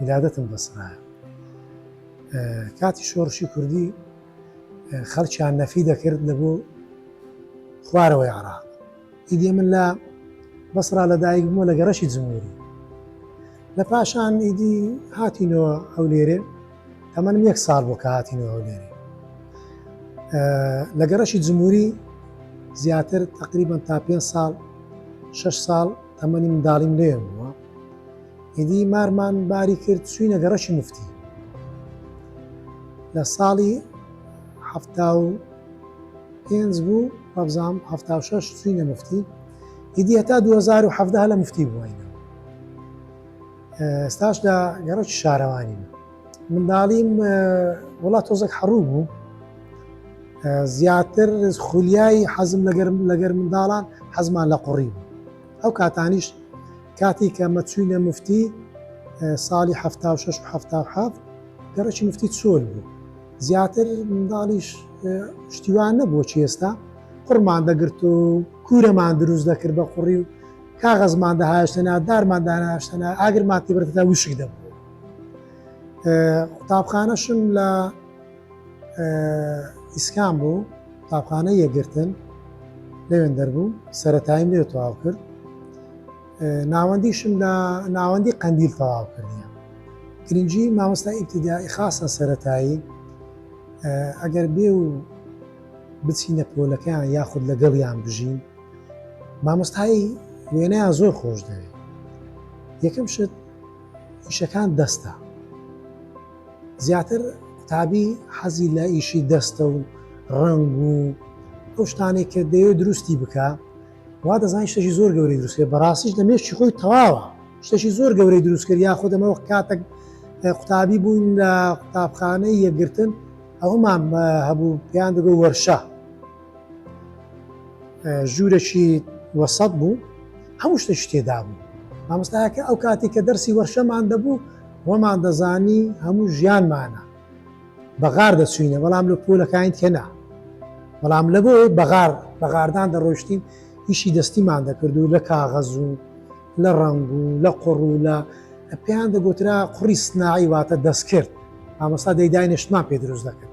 ئیرادەتم بەسڕایە کاتی شۆڕشی کوردی خەڵکیان نەفی دەکرد لە بۆ خوارەوەی عراق ئیدی من لە بەسرا لە دایک بووە لە گەڕەشی جمهوری لە پاشان ئیدی هاتینەوە ئەو لێرێ تەمەنم یەک ساڵ بۆ کە هاتینەوە ئەو لێرێ لە گەڕەشی جمهوری زیاتر تقریبان تا پێ ساڵ شش ساڵ تەمەنی منداڵیم لێ بووە ئیدی مارمان باری کرد چوینە گەڕەکی مفتی لە ساڵی حەفتا و پێنج بوو وابزام هەفتا و شەش چوینە مفتی ئیدی هەتا 2017 لە مفتی بووینە ستاش لە گەڕەکی شارەوانی منداڵیم وڵات تۆزەک حەڕوو بوو زیاتر خولیایی حەزم لەگەرم لەگەر منداڵان حەزمان لە قوڕی بوو ئەو کاتانیش کاتی کە مە چوینە مفتی ساڵی ه شش و ه حەفت گەڕەکی مفتی چۆل بوو زیاتر منداڵیش شتیوان نەبووە چی ئێستا قڕمان دەگرت و کورەمان دروست دەکرد بە قوڕی و کاغەزمان دەهاشتەنا دارمان داناشتەنا ئاگرمان تیبرتدا وشک دەبوو قوتابخانەشم لە ئیسکان بوو قوتابخانەی یەکگرتن لەوێن دەربوو سەتایم لێ تەواو کرد ناوەندیشم لە ناوەندی قەندیل تەواو کردە گرنگجی مامۆستا ئیبتیدایی خاصە سەتایی ئەگەر بێ و بچینە پۆلەکەیان یاخود لەگەڵیان بژین مامۆستایی وێنەیان زۆر خۆش دەوێت یەکەم شت ئیشەکان دەستە زیاتر قوتابی حەزی لە ئیشی دەستە و ڕەنگ و ئەو شتانێک کە دەیەوێت دروستی بکە وا دەزان شتێکی زۆر گەوری دروستێ بەڕاستیش لە مێشتی خۆی تەواوە شتێکی زۆر گەورەی دروستکرد یا خودەمەوە کاتێک قوتابی بووین لە قوتابخانەی یەکگرتن ئەومان هەبوو پێیان دەگۆ وەرشە ژوورەکی وەسەد بوو هەموو شتە شتێدا بوو مامۆستایەکە ئەو کاتی کە دەرسی وەرشەمان دەبوو وەمان دەزانی هەموو ژیانمانە بەغار دەچوینە بەڵام لە پۆلەکانی دیکە نا بەڵام لە بۆیە بەغار بەغاردان دەڕۆشتین ئیشی دەستیمان دەکرد و لە کاغەز و لە ڕەنگ و لە قڕ و لە پێیان دەگوترا قڕی سناعی واتە دەستکرد ئامۆستا دەیداینێشتمان پێ دروست دەکرد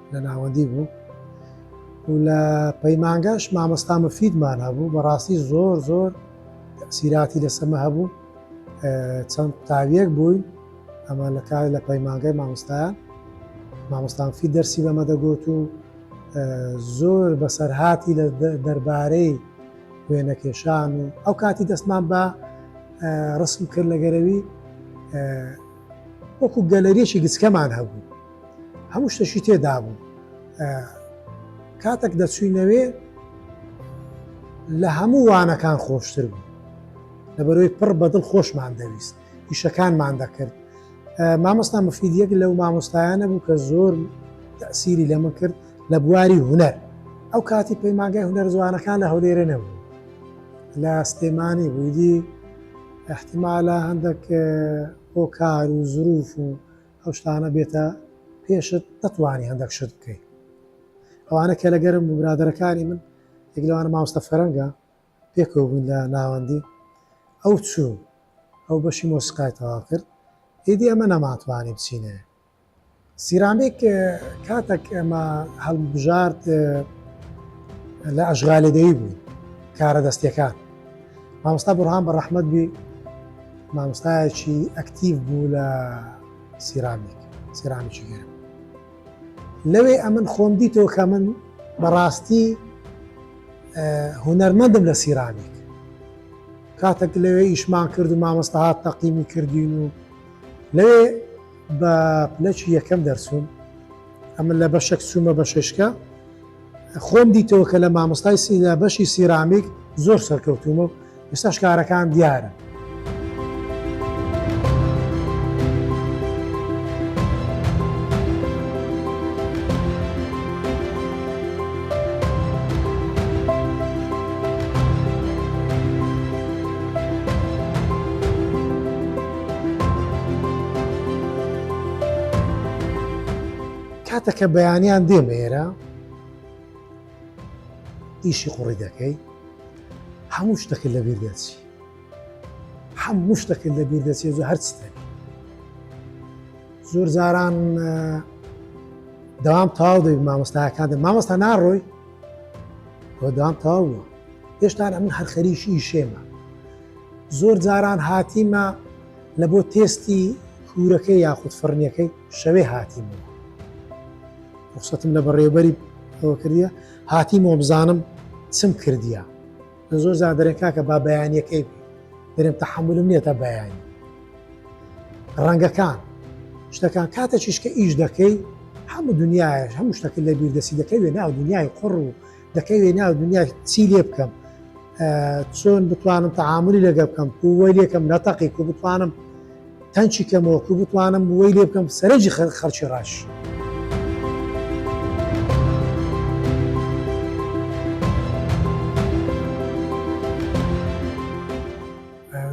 لە ناوەندی بوو و لە پەیمانگەش مامۆستا مفیدمان هەبوو بەڕاستی زۆر زۆر سیراتی لەسەمە هەبوو چەند قوتابیەک بووین ئەمە لە کار لە پەیمانگەی مامۆستایان مامۆستانفی دەرسی بەمە دەگوت و زۆر بەسەرهاتی لە دەربارەی وێنەکێشان و ئەو کاتی دەستمان بە ڕسم کرد لە گەرەوی وەکو گەلەریەکی گچکەمان هەبوو هەموو شتەشی تێدابوو کاتێک دەچوینەوێ لە هەموو وانەکان خۆشتر بوو لەبەرۆی پڕ بەدڵ خۆشمان دەویست ئیشەکانمان دەکرد مامۆستا مفیدیەک لەو مامۆستایانە بوو کە زۆر تەسیری لە من کرد لە بواری هوەر ئەو کاتی پەیماگای هوەر زوانەکان لە هەولێرە نەبوو لە ستێمانی بوویدی احتیمالە هەندێک هۆکار و زروف و ئەو شتانە بێتە پێشت نەتوانی هەندەک شت بکەی ئەوانە کە لەگەرم بوو برادەرەکانی من یەک لەوانە ماوەستە فەرەنگە پێکەوە بوون لە ناوەندی ئەو چوو ئەو بەشی مۆسیقای تەوا کرد ئیدی ئەمە نەماتوانانی بچینێ سیرامێک کاتەک ئەمە هەڵبژارد لە ئەشغالێدەی بوو کارە دەستەکان مامۆستا بڕهان بە ڕەحمەت بی مامۆستایەکی ئەکتیڤ بوو لە سیرامیک سیرامیکی گەرم لەوێ ئەمن خۆم دیتەوە کە من بەڕاستی هوەرمەندم لە سیرامیک کاتەک لەوێ ئیشمان کرد و مامۆستا هات تەقیمی کردین و لەوێ بە پلەچی یەکەم دەرچووم ئەمە لە بەشێک چوومە بە ششکە خۆم دیتەوە کە لە مامۆستای سی لە بەشی سیرامیک زۆر سەرکەوتومە و ئێستا شکارەکان دیارە. کاتەکە بەیانیان دێمە ئێرە ئیشی قوڕی دەکەی هەموو شتەکە لە بیر دەچی هەموو شتەکە لە بیر دەچێت زۆ هەرچ دەبی زۆر جاران داوام تاو دەبی مامۆستاکان دە مامۆستا ناڕۆی کۆدام تاوە هێشتان ئەمن هەر خەریکی ئیشێمە زۆر جاران هاتیمە لە بۆ تێستی کورەکەی یاخود فڕنیەکەی شەوێ هاتیمەوە ڕخسەتم لە بەڕێوبەری ئەوە کردە هاتیمەوە بزانم چم کردیە لە زۆر جار دەرێن کاکە با بەیانیەکەی دەرێن تەحملم نیە تا بەیانی ڕەنگەکان شتەکان کاتە چیشکە ئیش دەکەی هەموو دنیاش هەموو شتەکە لە بیردەسی دەکەوێت ناو دنیای قڕ و دەکەوێ ناو دنیا چی لێ بکەم چۆن بتوانم تەعاملی لەگە بکەم کووەی لێکم نەتەقی کو بتوانم تەنچی کەمەوە کو بتوانم بووەی لێ بکەم سەرنجی خەر خەرچی ڕاش.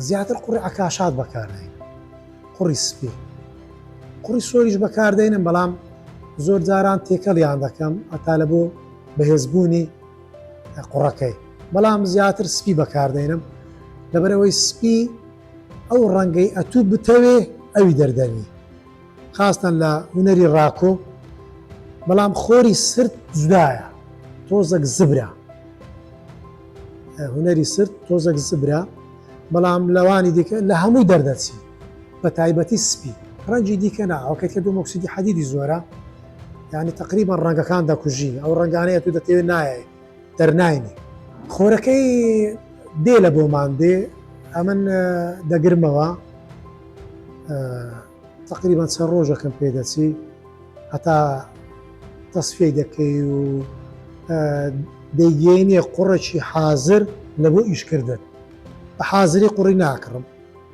زیاتر قوڕی عکاشات بەکارین قوڕی سپی قوڕی سۆریش بەکاردێنم بەڵام زۆر جاران تێکەڵیان دەکەم ئەتا لە بۆ بەهێزبوونی قوڕەکەی بەڵام زیاتر سپی بەکاردێنم لەبەرەوەی سپی ئەو ڕەنگەی ئەتوو بتەوێ ئەوی دەردەنی خاستن لە هوەری ڕاکۆ بەڵام خۆری سرد جودایە تۆزەک زبرا هوەری سرد تۆزەک زبرا بەڵام لەوانی دیکە لە هەمووی دەردەچی بە تایبەتی سپی ڕەنجی دیکە نا ئەوکەی کە دوو مۆکسیدی حەدیدی زۆرە یعنی تقریبا ڕەنگەکان دەکوژی ئەو ڕەنگانەیە تو دەتەوێت نایە دەرناینی خۆرەکەی دێ لە بۆمان دێ ئەمن دەگرمەوە تقریبا چە ڕۆژەکەم پێ دەچی هەتا تەسفی دەکەی و دەیگەینێ قوڕێکی حازر لە بۆ ئیشکردن بە حازری قوڕی ناکڕم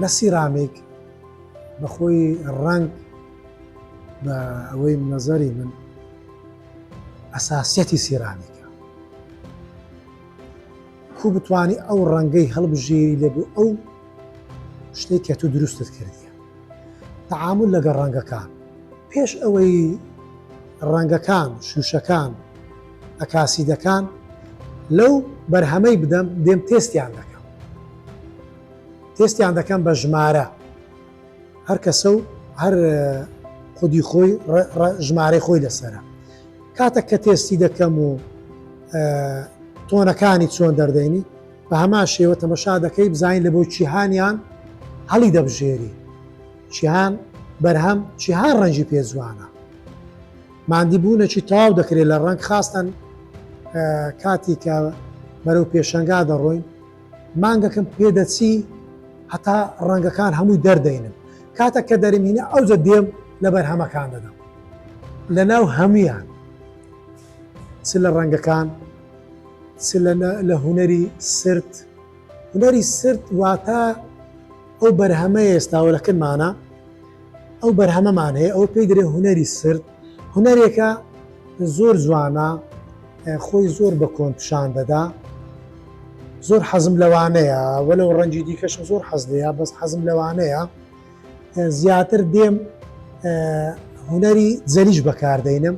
لە سیرامیک بە خۆی ڕەنگ بە ئەوەی نەزەری من ئەساسیەتی سیرامیکە کو بتانی ئەو ڕەنگەی هەڵبژێری لەبوو ئەو شتێک کە تو دروستت کردیە تەعامل لەگە ڕەنگەکان پێش ئەوەی ڕەنگەکان شوشەکان ئەکاسیدەکان لەو بەرهەمەی بدەم دێم تێستیان دەکەم تێستیان دەکەم بە ژمارە هەر کەسە و هەر خودی خۆی ژمارەی خۆی لەسرە کاتە کە تێستی دەکەم و تۆنەکانی چۆن دەردەینی بە هەما شێوە تەمەشا دەکەی بزانین لە بۆ چیهانیان هەڵی دەبژێری چیهان بەرهەم چیهان ڕەنجی پێزوانە مادی بوونەکی تاو دەکرێت لە ڕنگ خاستن کاتی کە بەرەو پێشەنگا دەڕۆین مانگەکم پێدەچی هەتا ڕەنگەکان هەمووی دەردەینم کاتە کە دەرمینە ئەوجە دێم لە بەرهەمەکان دەدەم لە ناو هەمویان چ لە ڕەنگەکان چ لە هوەری سرد هوەری سرد واتە ئەو بەرهەمە ئێستاوە لەکردمانە ئەو بەرهەمەمان هەیە ئەو پێی درێ هوەری سرد هونەرێکە زۆر جوانە خۆی زۆر بە کۆن پیشان دەدا زۆر حەزم لەوانەیە وەلو ڕەنجی دیکەشم زۆر حەز لەیە بەس حەزم لەوانەیە زیاتر دێم هونەری زەریش بەکاردەینم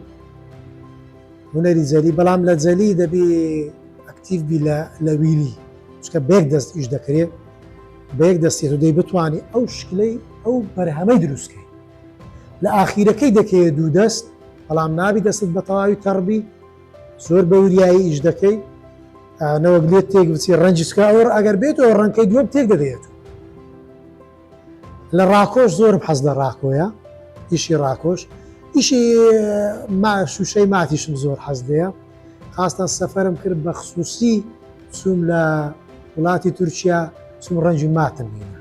هونەری زەری بەڵام لە جەلی دەبی ئەکتیڤ بی لە ویلی چکە بێک دەست ئیش دەکرێت بەیەک دەستێت و دەی بتانی ئەو شکلەی ئەو بەرهەمەی دروستکەی لە ئاخیرەکەی دەکەیە دوو دەست بەڵام نابی دەستت بە تەواوی تەڕبی زۆر بە وریایی ئیش دەکەی نەوەک لێت تێک بچی ڕەنجسکە ئەوە ئەگەر بێتەوە ڕەنکەی دووەم تێک دەدەێت لە ڕاکۆش زۆر حەز لە ڕاکۆیە ئیشی ڕاکۆش ئیشی ما شوشەی ماتیشم زۆر حەز لەیە خاستان سەفرم کرد بە خصوصی چوم لە وڵاتی تورکیا چوم ڕەنجی ماتم بینە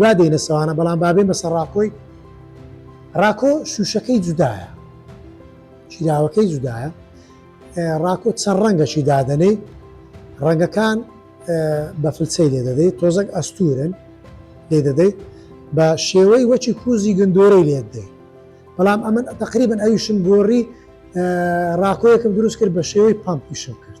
وا دێنە سەوانە بەڵام با بێمە سەر ڕاکۆی ڕاکۆ شووشەکەی جودایە چیراوەکەی جودایە ڕاکۆ چەند ڕەنگەشی دادەنێ ڕەنگەکان بە فلچەی لێ دەدەیت تۆزەک ئەستورن لێ دەدەیت بە شێوەی وەچی کوزی گندۆرەی لێت دەیت بەڵام ئەمن تقریبن ئەویشم گۆڕی ڕاکۆیەکم دروست کرد بە شێوەی پمپیشم کرد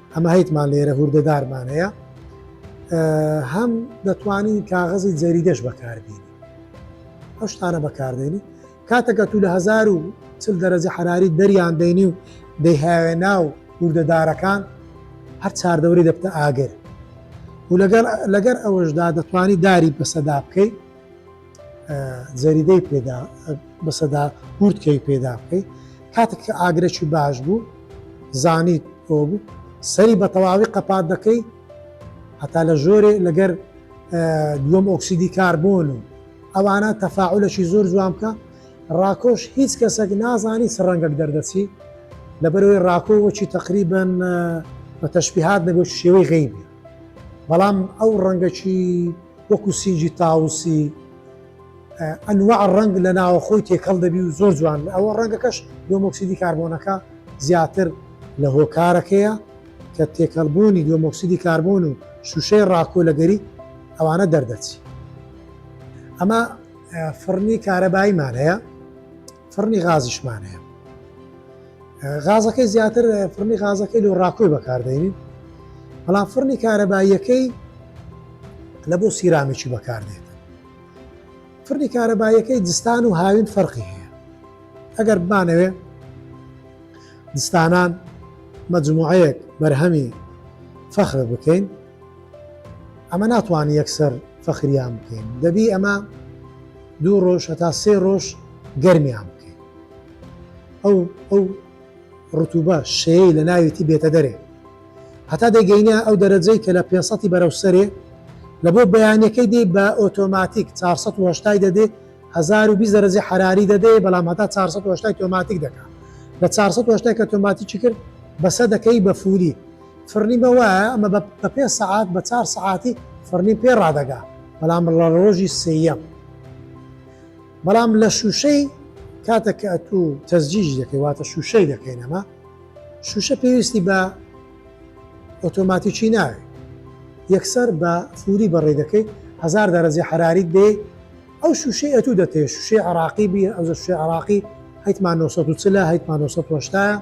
ئەمە هەیتمان لێرە هوردەدارمان هەیە هەم دەتوانین کاغەزی جەریدەش بەکاردێنی ئەو شتانە بەکاردێنی کاتەکە تو لە هزار و چل دەرەجە حراری دەریان دەینی و دەیهاوێ ناو هوردەدارەکان هەر چاردەوری دەبتە ئاگر و لەگەر ئەوەشدا دەتوانی داری بەسەدا بکەیت زەریدەی پێدا بەسەدا گورتکەی پێدا بکەیت کاتێک کە ئاگرەکی باش بوو زانیت بۆ بوو سەری بە تەواوی قەپات دەکەی هەتا لە ژۆرێ لەگەر دووەم ئۆکسیدی کاربۆن و ئەوانە تەفاعلەکی زۆر جوان بکە ڕاکۆش هیچ کەسێک نازانی چ ڕەنگەک دەردەچی لەبەرەوەی ڕاکۆ وەچی تقریبن بە تەشببیهات دەبێت شێوەی غیبی بەڵام ئەو ڕەنگەکی وەکو سینگی تاوسی ئەنواع ڕەنگ لە ناوەخۆی تێکەڵ دەبی و زۆر جوان بێ ئەوە ڕەنگەکەش دۆمۆکسیدی کاربۆنەکە زیاتر لە هۆکارەکەیە کە تێکەڵبوونی دۆمۆکسیدی کاربۆن و شوشەی ڕاکۆ لە گەریک ئەوانە دەردەچی ئەمە فڕنی کارەبایمان هەیە فڕنی غازیشمان هەیە غازەکەی زیاتر فڕنی غازەکەی لۆ ڕاکۆی بەکاردێنین بەڵام فڕنی کارەباییەکەی لە بۆ سیرامیکی بەکاردێت فڕنی کارەباییەکەی دستان و هاوین فەرقی هەیە ئەگەر بمانەوێ دستانان مەجموعەیەک بەرهەمی فەخر بکەین ئەمە ناتوانین یەکسەر فەخریان بکەین، دەبی ئەمە دوو ڕۆژ هەتا سێ ڕۆژ گەرمیان بکەین، ئەو ئەو ڕتوبە شێی لە ناویتی بێتە دەرێ هەتا دەگەینە ئەو دەرەجەی کە لە پێنج سەدی بەرەو سەرێ لە بۆ بەیانەکەی دێ بە ئۆتۆماتیک چوار سەد و هەشتا دەدێ هەزار و بیست دەرەجەی حەراری دەدێ بەڵام هەتا چوار سەد و هەشتا تۆماتیک دەکا لە چوار سەد و هەشتا کە تۆماتیکی کرد بەسە دەکەی بە فوری فڕنی بە وایە ئەمە بە بە پێ سەعات بە چار سەعاتی فڕنی پێ ڕادەگا بەڵام بڵە ڕۆژی سێەم بەڵام لە شوشەی کاتە کە ئەتو تەزجیژ دەکەی واتە شوشەی دەکەینەمە شوشە پێویستی بە ئۆتۆماتیکی ناوێ یەکسەر بە فوری بەڕێ دەکەیت هزار دەرەجە حراریت بێ ئەو شوشەی ئەتو دەتێ شوشەی عراقی بی ئەو شوێ عراقی هەیتمان 1940 هەیتمان 1970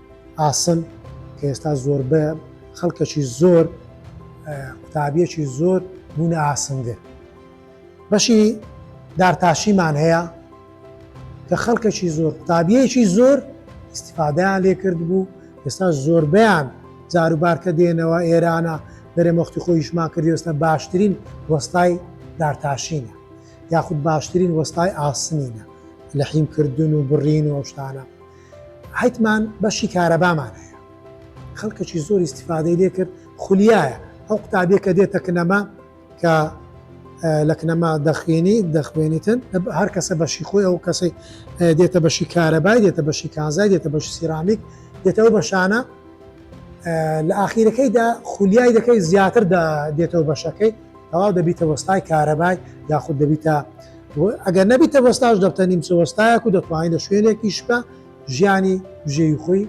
ئاسن کە ئێستا زۆربەیان خەڵکەکی زۆر قوتابیەکی زۆر بوونە ئاسنگر بەشی دارتاشیمان هەیە کە خەڵکەکی زۆر قوتابیەکی زۆر استفادەیان لێ کرد بوو ئێستا زۆربیان جاروبارکە دێنەوە ئێرانە دەرێ مەختی خۆیشمان کردی ئێستا باشترین وەستای دارتاشینە یاخود باشترین وەستای ئاسنینە لە حیمکردن و بڕین و ئەوشتانە حیتمان بەشی کارەبامان هەیە خەڵکەکی زۆری استیفادەی لێ کرد خولیایە ئەو قوتابیە کە دێتە کنەما کە لە کنەما دەخوێنی دەخوێنیتن هەر کەسە بەشی خۆی ئەو کەسی دێتە بەشی کارەبای دێتە بەشی کانزای دێتە بەشی سیرامیک دێتەوە بەشانە لە ئاخیرەکەیدا خولیای دەکەی زیاتر دێتەوە بەشەکەی تەواو دەبیتە وەستای کارەبای یاخود دەبیتە ئەگەر نەبیتە وەستاش دەبتە نیمچە وەستایەک و دەتوانین لە شوێنێکی شپە ژیانی بژێوی خۆی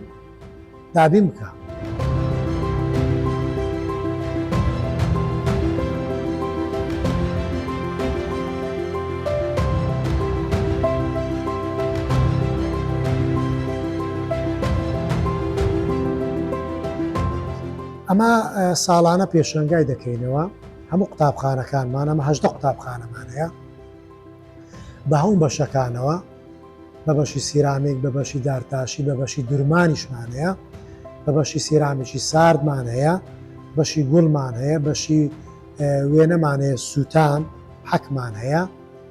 دابین بکە. ئەمە ساڵانە پێشەنگای دەکەینەوە هەموو قوتابخانەکانمان ئەمە هەشدە قوتابخانەمانەیە بە هەوم بەشەکانەوە بە بەشی سیرامێک بە بەشی دارتاشی بە بەشی درمانیشمانەیە بە بەشی سیرامێکی ساردمان هەیە بەشی گوڵمان هەیە بەشی وێنەمان هەیە سووتان حەکمان هەیە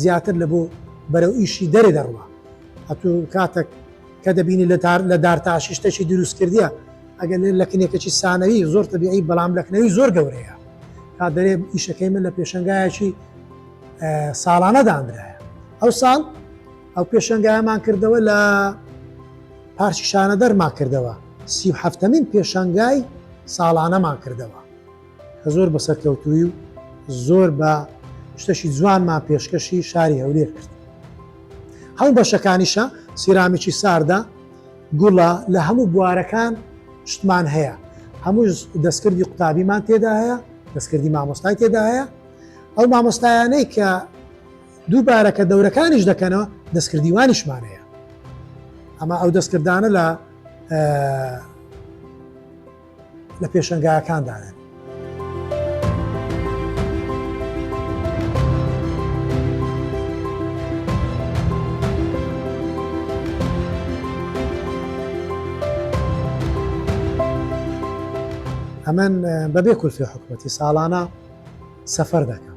زیاتر لە بۆ بەرەو ئیشی دەرێ دەڕوا ئەتو کاتەک کە دەبینی لە تار لە دارتاشی شتەکی دروست کردە ئەگەر لێ لە کنێکەکی سانەوی زۆر تەبیعی بەڵام لەکنەوی زۆر گەورەیە تا دەرێ ئیشەکەی من لە پێشنگایەکی ساڵانە دانرایە ئەو ساڵ ئەو پێشنگایمان کردەوە لە پارچی شانە دەرما کردەوە سی هەفتەمین پێشنگای ساڵانەمان کردەوە کە زۆر بە سەرکەوتووی و زۆر بە شتەشی جوانمان پێشکەشی شاری هەولێر کرد هەموو بەشەکانیشە سیرامیکی ساردە گوڵە لە هەموو بوارەکان شتمان هەیە هەموو دەستکردی قوتابیمان تێدا هەیە دەستکردی مامۆستای تێدا هەیە ئەو مامۆستایانەی کە دووبارە کە دەورەکانیش دەکەنەوە دەستکردیوانیشمان هەیە ئەمە ئەو دەستکردانە لە لە پێشەنگایەکاندایە. ئەمن بەبێ کورسی حکومەتی ساڵانە سەفەر دەکەم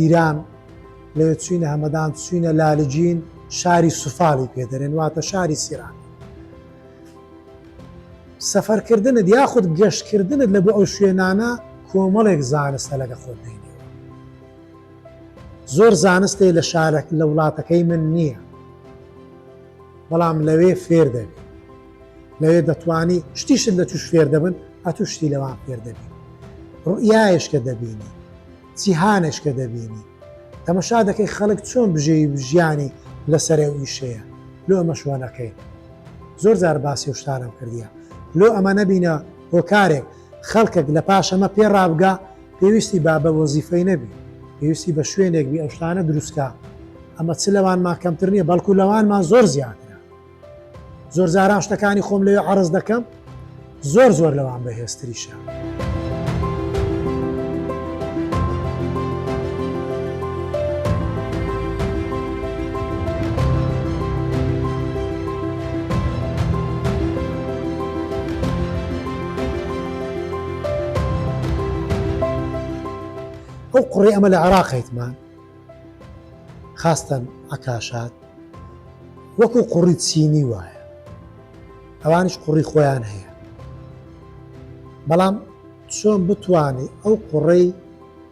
ایران، لەوێ چووینە هەمەدان، چووینە لالجین، شاری سفالی پێ دەرێن، واتە شاری سیران. سەفەرکردنت یاخود گەشتکردنت لە بۆ ئەو شوێنانە کۆمەڵێک زانستە لەگە خۆت دێنێ. زۆر زانستێ لە شارەک لە وڵاتەکەی من نییە بەڵام لەوێ فێر دەبی لەوێ دەتوانی شتیشت لە توش فێر دەبن ئەتو شتی لەوان فێر دەبی ڕوئایشکە دەبینی جیهانێش کە دەبینی تەمەشا دەکەی خەڵک چۆن بژێوی ژیانی لە سەرێ و ئیشەیە لۆ ئەمەش وا نەکەین زۆر جار باسی ئەو شتانەم کردیە لۆ ئەمە نەبینە هۆکارێک خەڵکەک لە پاش ئەمە پێ ڕابگا پێویستی با بە وەزیفەی نەبی پێویستی بە شوێنێک بی ئەو شتانە دروستکا ئەمە چ لەوانمان کەمتر نیە بەڵکو لەوانمان زۆر زیاترە. زۆرجاران شتەکانی خۆم لەوێ عرض دەکەم زۆر زۆر لەوان بەهێزتریشە. ئەو قڕی ئەمە لە عراقیتمان خاستەن عەکاشات وەکو قوڕی چینی وایە ئەوانیش قوڕی خۆیان هەیە بەڵام چۆن بتوانی ئەو قوڕەی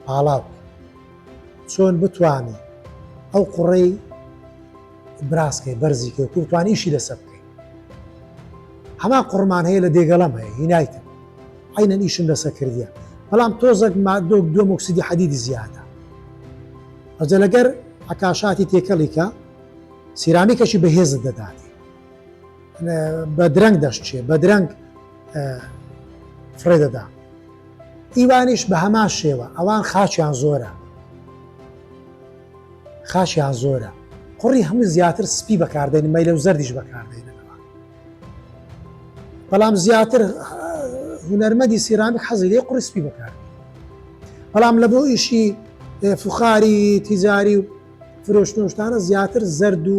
پاڵاو چۆن بتوانی ئەو قوڕەی براس کەی بەرزی کەی کورد توان ئیشی لەسەر بکەی هەما قڕمان هەیە لە دێگەڵەم هەیە هینایتم عینەن ئیشم لەسەر کردیە بەڵام تۆزەک مادۆک دو مکسیدی حەدیدی زیادە ئەجە لەگەر عکاشاتی تێکەڵیکە سیرامیکەشی بەهێزت دەداتێ بە درەنگ دەشتێ بە درەنگ فرێ دەدا ئیوانیش بە هەمان شێوە ئەوان خاچیان زۆرە خاشیان زۆرە قوڕی هەموو زیاتر سپی بەکاردێن مەیلە و زەردیش بەکاردێنەوە بەڵام زیاتر هونەرمەدی سیرامی حەزی لێ قڕی سپی بەکار بەڵام لە بۆ ئیشی فخاری تیزاری و فرۆشتۆشتانە زیاتر زەرد و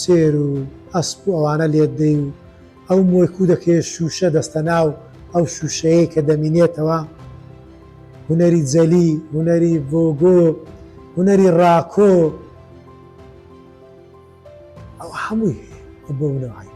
چێر و ئەسپ و ئەوانە لێت دەی و ئەو مۆی کوودەکەیە شووشە دەستە ناو ئەو شووشەیەی کە دەمینێتەوە هونەری جەلی هونەری ڤۆگۆ هونەری ڕاکۆ ئەو هەمووی هەیە بۆ منەوەی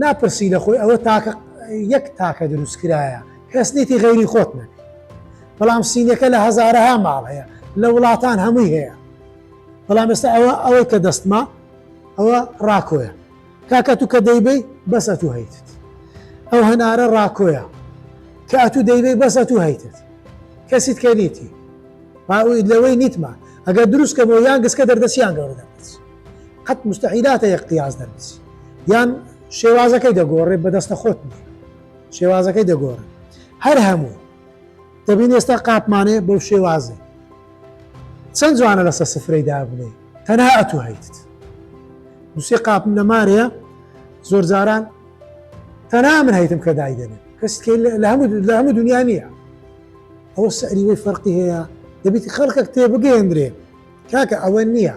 ناپرسی لە خۆی ئەوە تاکە یەک تاکە دروست کرایە کەس نیتی غەیری خۆت نەک بەڵام سینەکە لە هەزارەها ماڵ هەیە لە وڵاتان هەمووی هەیە بەڵام ئێستا ئەوە ئەوەی کە دەستما ئەوە ڕاکۆیە کاکە تو کە دەیبی بەس ئەتو هەیتت ئەو هەنارە ڕاکۆیە کە ئەتو دەیبی بەس ئەتو هەیتت کەسیت کە نیتی باوی لەوەی نیتمان ئەگەر دروستکەمەوە یان گسکە دەردەسییان گەورە دەبێت قەت مستحیلاتە یەک قیاس دەربچی یان شێوازەکەی دەگۆڕێ بەدەستە خۆت نیە شێوازەکەی دەگۆڕێ هەر هەموو دەبین ئێستا قاپمانێ بەو شێوازێ چەند جوانە لەسە سفرەی دابنێ تەنها ئەتو هەیتت دوسێ قاپم لە مارەیە زۆر جاران تەنها من هەیتم کە دای دەنێ کەس لە هەموو لە هەموو دنیا نییە ئەوە سەریوەی فەرقی هەیە دەبیتی خەڵکەک تێبگەێندرێ کاکە ئەوە نییە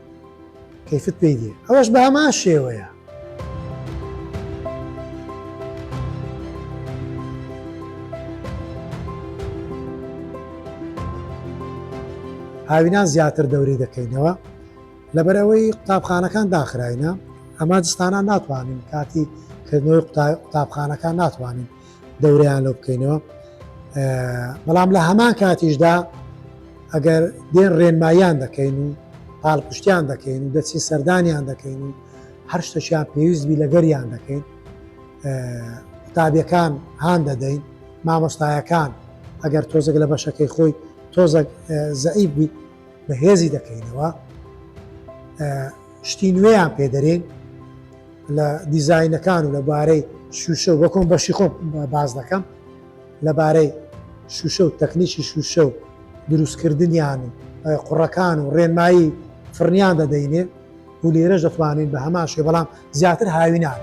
کەیفت پێی دێ ئەوەش بە هەمان شێوەیە. هاوینان زیاتر دەوری دەکەینەوە لەبەرەوەی قوتابخانەکان داخراینە ئەمە دستانە ناتوانین کاتی کردنەوەی قوتابخانەکان ناتوانین دەورەیان لەو بکەینەوە بەڵام لە هەمان کاتیشدا ئەگەر دێن ڕێنماییان دەکەین و پاڵپشتیان دەکەین و دەچین سەردانیان دەکەین و هەر شتەشیان پێویستبی لەگەریان دەکەین قوتابیەکان هاان دەدەین مامۆستایەکان ئەگەر تۆزێک لە بەشەکەی خۆی تۆزە زەعیب بی بەهێزی دەکەینەوە شتی نوێیان پێدەرێن لە دیزینەکان و لەبارەی شوشە و بەکۆم بەشی خۆم باز دەکەم لەبارەی شوشە و تەکنیکی شوشە و دروستکردنیان و قوڕەکان و ڕێنمایی فڕنیان دەدەینێ و لێرەش دەتوانین بە هەماشێ بەڵام زیاتر هاوینان.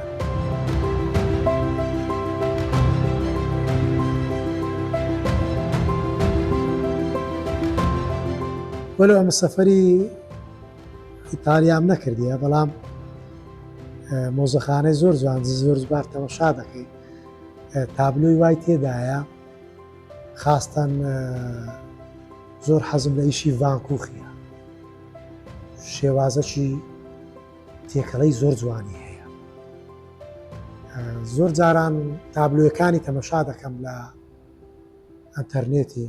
وەلو ئەمە سەفری ئیتالیام نەکردیە بەڵام مۆزەخانەی زۆر جوان زۆر زبار تەمەشا دەکەین تابلۆی وای تێدایە خاستەن زۆر حەزم لە ئیشی ڤانکوخیە شێوازەکی تێکەڵەی زۆر جوانی هەیە زۆر جاران تابلوەکانی تەمەشا دەکەم لە ئەتەرنێتی